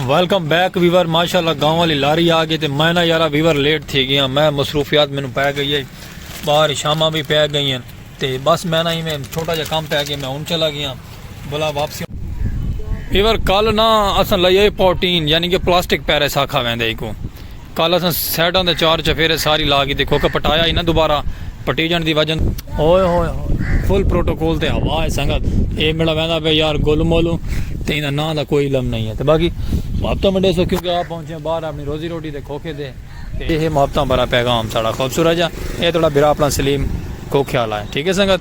Welcome back viewer ماشاءاللہ گاؤں والی لاری آ گئی تے میں نا یارا ویور لیٹ تھی گیا میں مصروفیات مینوں پے گئی ہے باہر شاماں بھی پے گئی ہیں تے بس میں نا ایویں چھوٹا جا کام پے گیا میں ہن چلا گیا بلا واپسی ویور کل نا اساں لئی پروٹین یعنی کہ پلاسٹک پیرس آکھا ویندے کو کل اساں سائیڈاں دے چار چفیرے ساری لا کیتے کوکا پٹایا ہی نہ دوبارہ پٹیجنڑ دی وجہ ہوئے ہوئے ہوئے فل پروٹوکول تے ہوا ہے سنگت اے میڑا ویندا پہ یار گولو مولو تے ایندا ناں دا کوئی علم نہیں ہے تے باقی محبتاں ونڈے سو کیونکہ آپ پہنچے باہر اپنی روزی روٹی دے کھوکھے دے تے اے ہے محبتاں بھرا پیغام ساڑا خوبصورت جا اے تہاڑا بھرا اپنا سلیم کھوکھے آلا ہے ٹھیک ہے سنگت۔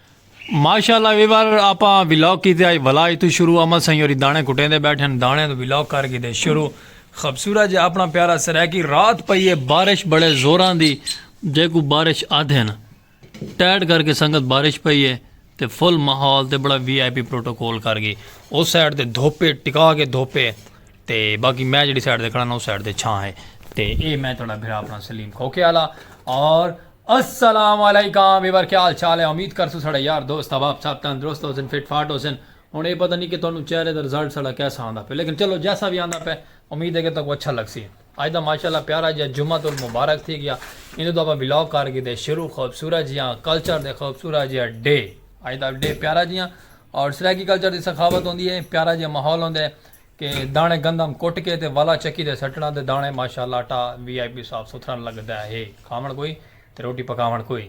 ماشاءاللہ وی وار آپا ولاگ کیتے آج ولاج تو شروع امل سائیں ہوری دانے کٹیندے بیٹھے ہن دانے تو ولاگ کر کیتے شروع خبصورت جے اپنا پیارا سرائیکی رات پئی ہے بارش بڑے زوراں دی جیکو بارش آدھے نا ٹیڈ کر کے سنگت بارش پئی ہے تے فل ماحول تے بڑا وی آئی پی پروٹوکول کر گئی اس سائیڈ تے دھوپے ٹکا کے دھوپے تے باقی میں جیڑی سائیڈ تے کھڑا نا او سائیڈ تے چھاں ہے تے اے میں تہاڈا بھرا اپنا سلیم کھوکھے آلا اور السلام علیکم ویور کیا حال چال ہے امید کرسوں ساڈے یار دوست احباب سب تندرست ہوسن فٹ فاٹ ہوسن ہن اے پتہ نی کہ تہانوں چہرے دا رزلٹ ساڈا کیسا آندا پے لیکن چلو جیسا وی آندا پے امید ہے کہ تہاکوں اچھا لگسی اج دا ماشاءاللہ پیارا جیا جمعۃ المبارک تھی گیا ایندے توں اپاں ولاگ کر کیتے شروع خوبصورت جیا کلچر دے خوبصورت جیا ڈے اج دا ڈے پیارا جیا اور سرائیکی کلچر دی سخاوت ہوندی ہے پیارا جیا ماحول ہوندے۔ کہ داݨے گندم کٹ کے تے والا چکی تے سٹݨا تے داݨے ماشاء اللہ آٹا وی آئی پی صاف ستھرا لڳدا ہے کھاوݨ کوئی تے روٹی پکاوݨ کوئی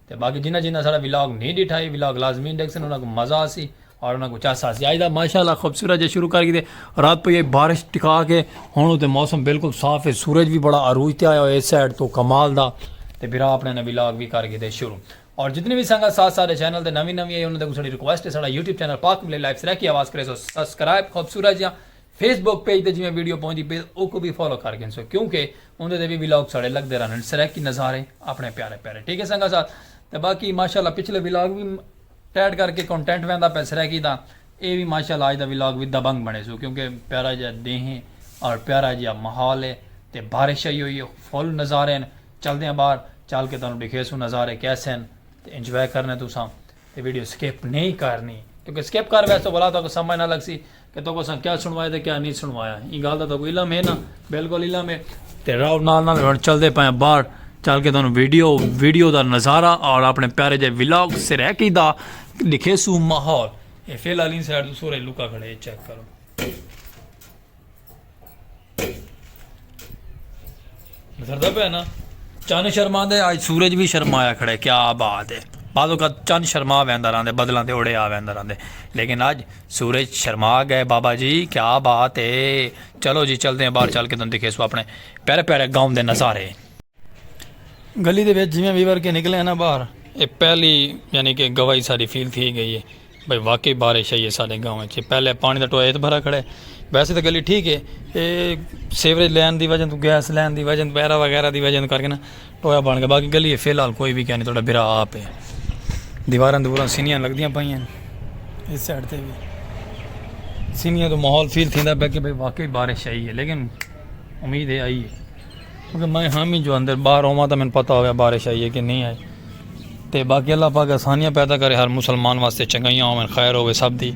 تے باقی جنہاں جنہاں ساݙا ولاگ نی ݙٹھا اے ولاگ لازمی ݙیکھسن انہاں کوں مزہ آسی اور انہاں کوں چس آسی اج دا ماشاء اللہ خوبصورت جے شروع کر کیتے رات پئی اے بارش ٹکا کے ہݨ تے موسم بالکل صاف اے سورج وی بڑا عروج تے آیا ہوئے اے سائیڈ تو کمال دا تے بھرا اپݨے نے ولاگ وی کر کیتے شروع اور جتنی وی سنگت ساتھ ساڈے چینل تے نوی نوی ہے انہاں دے کو ساڈی ریکویسٹ ہے ساڈا یوٹیوب چینل پاک ملے لائیو سرائیکی آواز کریسو سسکرائب خوبصورت جیاں فیس بک پیج تے جیویں ویڈیو پوندی پئی اوکوں وی فالو کر گھنسو کیونکہ اوندے تے وی ولاگ ساڈے لگدے رہنن سرائیکی نظارے اپنے پیارے پیارے ٹھیک ہے سنگت ساتھ تے باقی ماشاءاللہ پچھلے ولاگ وی ٹیڈ کر کے کنٹینٹ ویندا پے سرائیکی دا اے وی ماشاءاللہ اج دا ولاگ وی دبنگ بنے سو کیونکہ پیارا جیاں دیں ہے اور پیارا جیاں ماحول ہے تے بارش آئی ہوئی ہے فل نظارے ہیں چلدے آں باہر چل کے تانوں ڈکھیسوں نظارے کیسے ہن تے انجوائے کرنے تساں تے ویڈیو سکپ نئیں کرنی کیونکہ سکپ کر ویسو بھلا تہاکوں سمجھ نہ لگسی کہ تہاکوں اساں کیا سنوایا تے کیا نئیں سنوایا ایں گالھ دا تہاکوں علم ہے نا بالکل علم ہے تے راؤ نال نال ہن چلدے پئے آں باہر چل کے تانوں ویڈیو ویڈیو دا نظارہ اور اپنے پیارے جے ولاگ سرائیکی دا ڈکھیسوں ماحول اے فی الحال ان سائیڈ تو سورے لکا کھڑے چیک کرو گزردا پہ نا چند شرما دے آج سورج بھی شرمایا کھڑے کیا بات ہے بعض اوقات چند شرما ویندا رہندے بدلاں دے اوڑے آ ویندا رہندے لیکن اج سورج شرما گئے بابا جی کیا بات ہے چلو جی چلتے ہیں باہر چل کے تم دکھے سو اپنے پیارے پیارے گاؤں دے نظارے گلی دے وچ جویں ویور کے نکلے ہیں نا باہر یہ پہلی یعنی کہ گواہی ساری فیل تھی گئی ہے بھئی واقعی بارش آئی ہے ساڈے گاؤں وچ پہلے پانی دا ٹویا اتنا بھرا کھڑا ہے ویسے تے گلی ٹھیک ہے اے سیوریج لین دی وجہ توں گیس لین دی وجہ توں وغیرہ وغیرہ دی وجہ توں کر کے نا ٹویا بن گیا باقی گلی فی الحال کوئی وی کینی تہاڈا بھرا آپ ہے دیواراں دوراں سنیاں لگدیاں پئیاں اس سائیڈ تے وی سنیاں توں ماحول فیل تھیندا پیا کہ بھئی واقعی بارش آئی ہے لیکن امید ہے آئی ہے کیونکہ میں ہم ہی جو اندر باہر ہوا تو میں پتا ہوا بارش آئی ہے کہ نہیں آئی تے باقی اللہ پاک آسانیاں پیدا کرے ہر مسلمان واسطے چنگائیاں ہوئے خیر ہوئے سب دی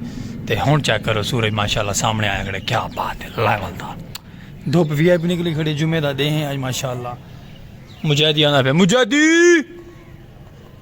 تے ہن چیک کرو سورج ماشاءاللہ سامنے آیا کھڑے کیا بات ہے اللہ والدا دھوپ وی آئی پی نکلی کھڑے جمعہ دا دے ہیں آج ماشاءاللہ مجاہدی آنا پہ مجاہدی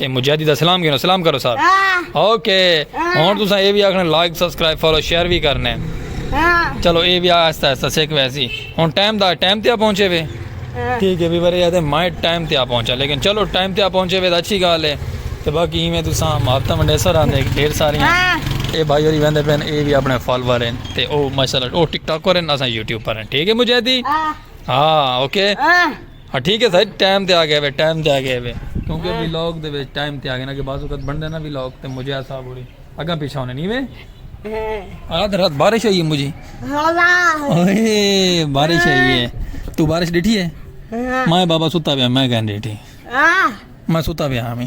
اے مجاہدی دا سلام گھنو سلام کرو صاحب اوکے ہن تساں اے وی آکھنا لائک سبسکرائب فالو شیئر وی کرنے چلو اے وی آہستہ آہستہ سیکھ ویسی ہن ٹائم دا ٹائم تے پہنچے وے ٹھیک ہے وی ورے آتے مائے ٹائم تے پہنچا لیکن چلو ٹائم تے پہنچے وے اچھی گال ہے تے باقی ایویں تساں محبتاں ونڈے سر آندے ڈھیر ساری اے بھائی ہوری ویندے پین اے وی اپنے فالوور ہیں تے او ماشاءاللہ او ٹک ٹاک کرن اساں یوٹیوب پر ہیں ٹھیک ہے مجاہدی ہاں اوکے ہاں ٹھیک ہے سر ٹائم تے آ گیا ہوئے ٹائم تے آ گیا ہوئے کیونکہ ہاں۔ ویلوگ دے وچ ٹائم تے آ گیا نا کہ بعض وقت بن دینا ویلوگ تے مجھے ایسا بولی اگاں پیچھے ہونے نہیں ہوئے ہاں۔ آدھ رات بارش ہوئی ہے مجھے اوئے بارش ہوئی ہے تو بارش ڈٹھی ہے میں بابا ستا پیا میں کہیں ڈٹھی میں ستا پیا ہمیں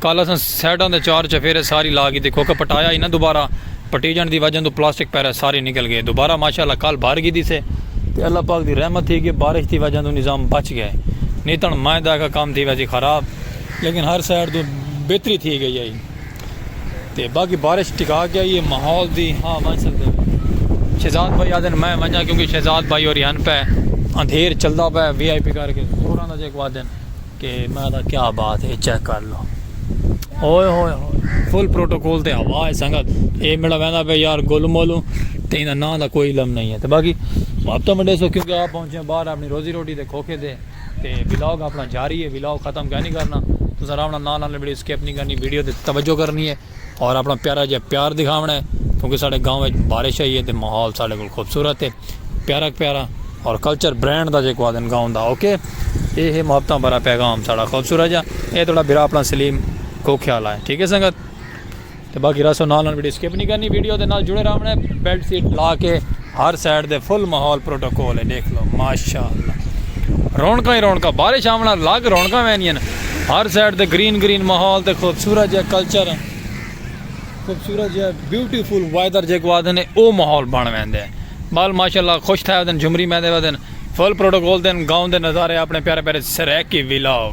کل اساں سائیڈاں دے چار چفیرے ساری لا گھدی کیونکہ پٹایا ہی نہ دوبارہ پٹیجنڑ دی وجہ توں پلاسٹک پہرے سارے نکل گئے دوبارہ ماشاءاللہ کل بھر گھدی سے تے اللہ پاک دی رحمت تھی کہ بارش دی وجہ توں نظام بچ گئے نی تنڑ مائیں داکھا کم تھی ویسی خراب لیکن ہر سائیڈ توں بہتری تھی گئی ہئی تے باقی بارش ٹکا کے آئی ہے ماحول دی ہاں ونج سکدے ہو شہزاد بھائی آدن میں ونجا کیونکہ شہزاد بھائی ہوری ہن پے اندھیر چلدا پے وی آئی پی کر کے سوراں دا جیک وادن کہ میں دا کیا بات ہے چیک کر لو ہوئے ہوئے ہوئے فل پروٹوکول تے ہوا ہے سنگت اے میرا ویندا پہ یار گولو مولو تے انہاں نام دا کوئی علم نہیں ہے تے باقی آپ تو منڈے سو کیونکہ آپ پہنچے ہیں باہر اپنی روزی روٹی دے کھوکھے دے تے ولاگ اپنا جاری ہے ولاگ ختم کہہ نہیں کرنا تو ذرا اپنا نام نال ویڈیو سکپ نہیں کرنی ویڈیو تے توجہ کرنی ہے اور اپنا پیارا جیہا پیار دکھاونا ہے کیونکہ ساڈے گاؤں وچ بارش آئی ہے تے ماحول ساڈے کول خوبصورت ہے پیارا پیارا اور کلچر برانڈ دا جیکو آدن گاؤں دا اوکے اے ہے محبتاں بھرا پیغام ساڈا خوبصورت جا اے تھوڑا بھرا اپنا سلیم کو خیال آئے ٹھیک ہے سنگت تے باقی رسو نال نال ویڈیو سکپ نہیں کرنی ویڈیو دے نال جڑے رہونا ہے بیلٹ سیٹ لا کے ہر سائیڈ دے فل ماحول پروٹوکول ہے ڈیکھ لو ماشاءاللہ رونقاں ہی رونقاں بارش آون نال لگ رونقاں ویندین ہر سائیڈ تے گرین گرین ماحول تے خوبصورت جیا کلچر خوبصورت جیا بیوٹیفل ویدر جے کو آدھے نے او ماحول بن ویندے بال ماشاءاللہ خوش تھے ودن جھمری میندے ودن فل پروٹوکول تے گاؤں دے نظارے اپنے پیارے پیارے سریکی ویلاگ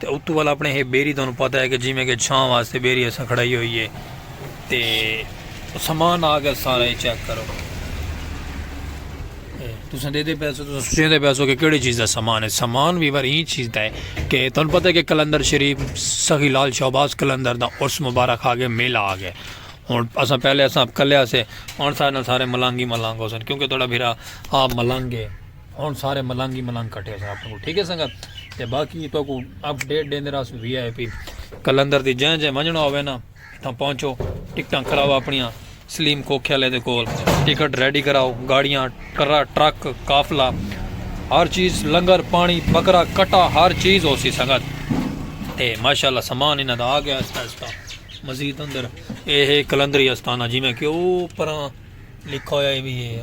تے اتو ول اپنے ہے بیری تانوں پتہ ہے کہ جیویں کہ چھاں واسطے بیری اساں کھڑائی ہوئی ہے تے سامان آ گیا سارا یہ چیک کرو تساں دے دے پیسو تساں سوچیں دے پیسو کہ کیڑی چیز دا سامان ہے سامان بھی ور این چیز دا ہے کہ تن پتہ ہے کہ کلندر شریف سخی لال شہباز کلندر دا عرس مبارک آگے میلہ آگے ہون اساں پہلے اساں کلے اسے ہون سارے سارے ملانگی ملانگ ہو سن کیونکہ توڑا بھیرا آپ ملانگ ہے ہن سارے ملنگ ہی ملنگ کٹے ہوسن اپنے کول ٹھیک ہے سنگت تے باقی تو کو اپ ڈیٹ دیندے رہسوں وی آئی پی کلندر دی جیں جیں ونجنا ہوے نا تاں پہنچو ٹکٹاں کراؤ اپنیاں سلیم کوکھے والے دے کول ٹکٹ ریڈی کراؤ گاڑیاں ٹرا ٹرک قافلہ ہر چیز لنگر پانی بکرا کٹا ہر چیز ہو سی سنگت تے ماشاءاللہ سامان انہاں دا آ گیا اس کا مزید اندر اے ہے کلندری استانہ جی میں کہ او پراں لکھا ہویا ہے بھی ہے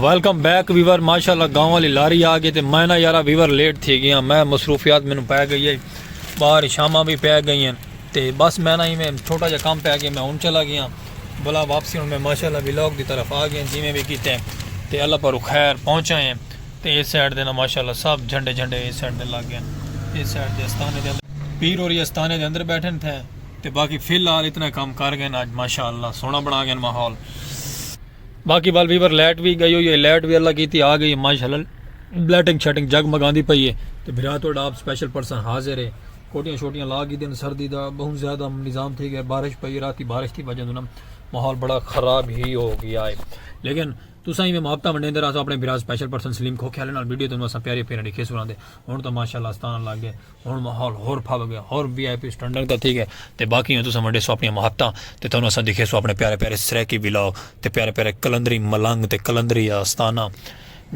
ویلکم بیک ویور ماشاءاللہ گاؤں والی لاری آ گئی تے میں نا یارا ویور لیٹ تھی گیا میں مصروفیات مینوں پے گئی ہے باہر شاماں بھی پے گئی ہیں تے بس میں نا ایویں چھوٹا جا کام پے گیا میں ہن چلا گیا بلا واپسی ہن میں ماشاءاللہ ویلاگ دی طرف آ گیا جویں بھی کیتے تے اللہ پر خیر پہنچا ہیں تے اس سائیڈ دے نا ماشاءاللہ سب جھنڈے جھنڈے اس سائیڈ دے لگ گئے اس سائیڈ دے استانے دے پیر اور یہ استانے دے اندر بیٹھے تھے تے باقی فی الحال اتنا کام کر گئے نا ماشاءاللہ سونا بنا گئے ماحول باقی وال ویور لائٹ بھی گئی ہوئی ہے لائٹ بھی اللہ کیتی آ گئی ہے ماشاءاللہ بلیٹنگ شیٹنگ جگ مگاندی پئی ہے تے بھرا تو آپ سپیشل پرسن حاضر ہے کوٹیاں شوٹیاں لا گئی دن سردی دا بہت زیادہ نظام تھی گیا بارش پئی راتی بارش تھی وجہ دنا ماحول بڑا خراب ہی ہو گیا ہے لیکن تسا ہی میں محبتہ منڈے اندر آسا اپنے بھرا سپیشل پرسن سلیم کھوکھے والے نال ویڈیو تنو اسا پیاری پیرا لکھے سنا دے ہن تو ماشاءاللہ استان لگ گئے ہن ماحول ہور پھب گئے ہور وی آئی پی سٹنڈنگ دا تھی گئے تے باقی تساں ونڈے سو اپنی مہتاں تے تانوں اساں دکھے سو اپنے پیارے پیارے سرائیکی ولاگ تے پیارے پیارے کلندری ملنگ تے کلندری آستانہ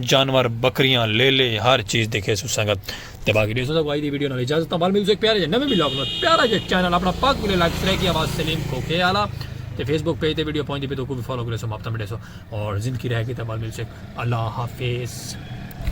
جانور بکریاں لیلے ہر چیز دکھے سو سنگت تے باقی دیسو سا کوئی دی ویڈیو نال اجازت بال ملو ایک پیارے جے نویں ولاگ نال پیارا جے چینل اپنا پاک ویلے لائک سرائیکی آواز سلیم کوکے والا تے فیس بک پیج تے ویڈیو پہنچ دی پی تو کو بھی فالو کرے سو مہتاں ملے سو اور زندگی رہ گئی تے بال ملو ایک اللہ حافظ